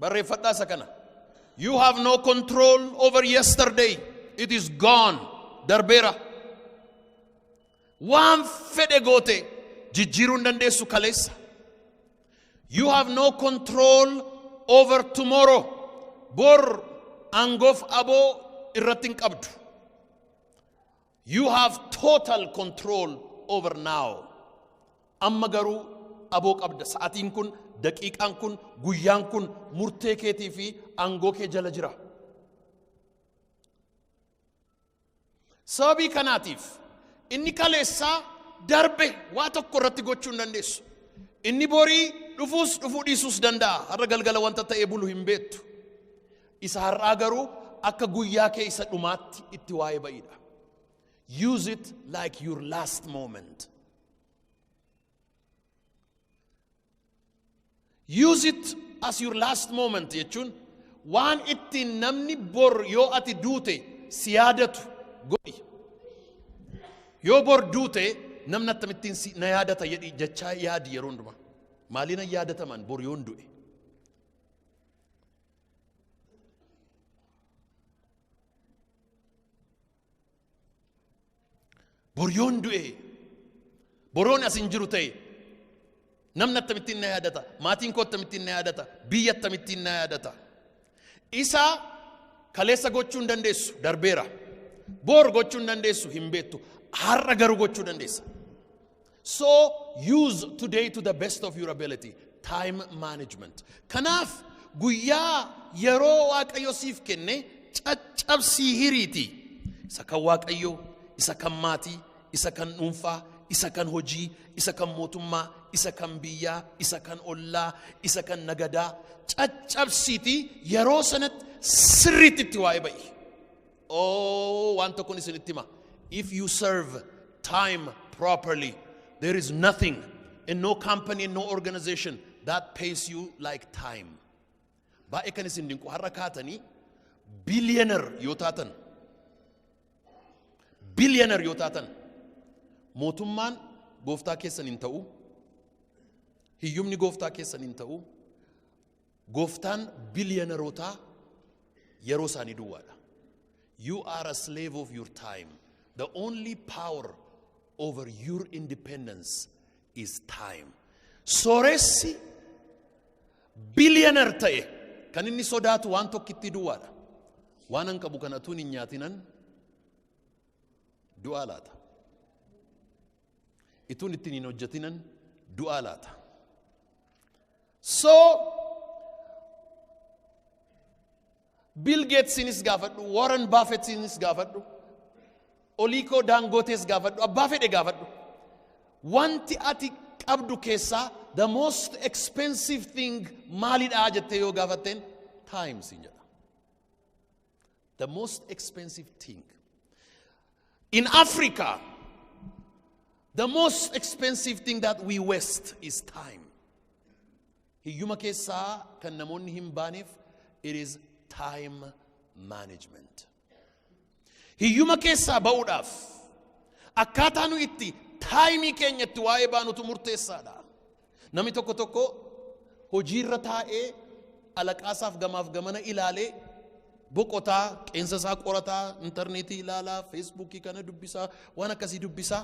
Barreeffadhaa isa kana. You have no control over yesterday. It is gone. Darbeera. Waan fedhe goote jijjiiruu hin dandeessu kaleessa. You have no control over tomorrow. Bor aangoof aboo irratti hin qabdu. You have total control over now. Amma garuu aboo qabda sa'atiin kun daqiiqaan kun guyyaan kun murtee keetii fi aangoo kee jala jira. Sababii kanaatiif inni kaleessaa darbe waa tokko irratti gochuu hin dandeessu. Inni borii dhufuus dhufuu dhiisuus danda'a. Har'a galgala wanta ta'ee bulu hin beektu. Isa har'aa garuu akka guyyaa kee isa dhumaatti itti waa'ee ba'idha. Use it like your last moment. Use it as your last moment jechuun waan ittiin namni bor yoo ati duute si yaadatu godhi. Yoo bor duute namni akkamittiin si na yaadata jedhi jechaa yaadi yeroo hundumaa. Maaliin na yaadataman bor yoon du'e? Boryoon du'e boroon as hin jiru ta'e namni akkamittiin na yaadata maatiin koo akkamittiin na yaadata biyya akkamittiin na yaadata isa kaleessa gochuu hin dandeessu darbeera boor gochuu hin dandeessu hin beektu har'a garuu gochuu dandeessa So use today to the best of your ability. Time management. Kanaaf guyyaa yeroo Waaqayyo siif kenne caccabsii hiriiti. Isa kan Waaqayyo, isa kan maatii, isa kan dhuunfaa, isa kan hojii, isa kan mootummaa, isa kan biyyaa, isa kan ollaa, isa kan nagadaa. Caccabsiiti yeroo sanatti sirriitti itti waa'ee ba'i. Oh, waan tokkon isinitti hima. If you serve time properly, there is nothing and no company and no organization that pays you like time. Baay'ee kan isin dinqu har'a kaatanii billionaire yoo taatan billionaire yoo taatan mootummaan gooftaa keessan hin ta'u hiyyumni gooftaa keessan hin ta'u Gooftaan biliyanarotaa yeroo isaanii duwwaadha. You are a slave of your time. The only power over your independence is time. Sooressi biliyanar ta'e kan inni sodaatu waan tokkittii duwwaadha. Waan an qabu kana tuun hin nyaatinan du'aa laata. Ituun ittiin hin hojjetinan du'aa laata. So Bill Gatesiinis gaafadhu, Warren Buffettiinis gaafadhu, Oliikoo Daangootees gaafadhu, abbaa fedhe gaafadhu. Wanti ati qabdu keessaa the most expensive thing maalidha jettee yoo gaafatteen time siin jedha. The most expensive thing. In Africa, the most expensive thing that we waste is time. Hiyyuma keessaa kan namoonni hin baaneef it is time management. Hiyyuma keessaa ba'uudhaaf akkaataa nu itti taayimii keenya itti waa'ee baanutu murteessaadha. Namni tokko tokko hojiirra taa'ee alaqaasaaf gamaaf gamana ilaalee boqotaa qeensa isaa qorataa intarneetii ilaalaa feesbuukii kana dubbisaa waan akkasii dubbisaa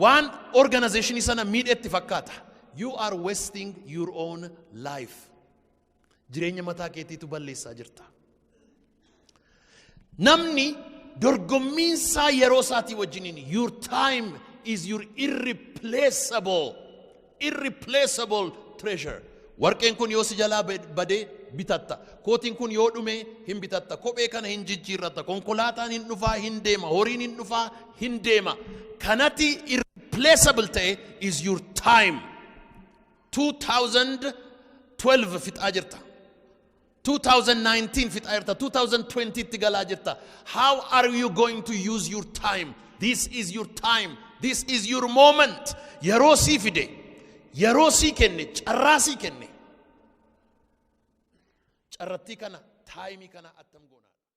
waan organizeeshinii sana miidhetti fakkaata. You are wasting your own life. Jireenya mataa keetiitu balleessaa jirta. Namni dorgommiin isaa yeroo isaatii wajjiniin your time is your irreplaceable irreplaceable treasure. Warqeen kun yoo si jalaa badee bitatta. Kootiin kun yoo dhume hin bitatta. Kophee kana hin jijjiirratta. Konkolaataan hin dhufaa hin deema. Horiin hin dhufaa hin deema. Kanati irreplaceable ta'e is your time. 2012 fixaa jirta. 2019 fixaa jirta. 2020 itti galaa jirta. How are you going to use your time? This is your time. This is your moment. Yeroo sii fide. Yeroo sii kenne. Carraa sii kenne. Carrattii kana taayimii kana attam goona.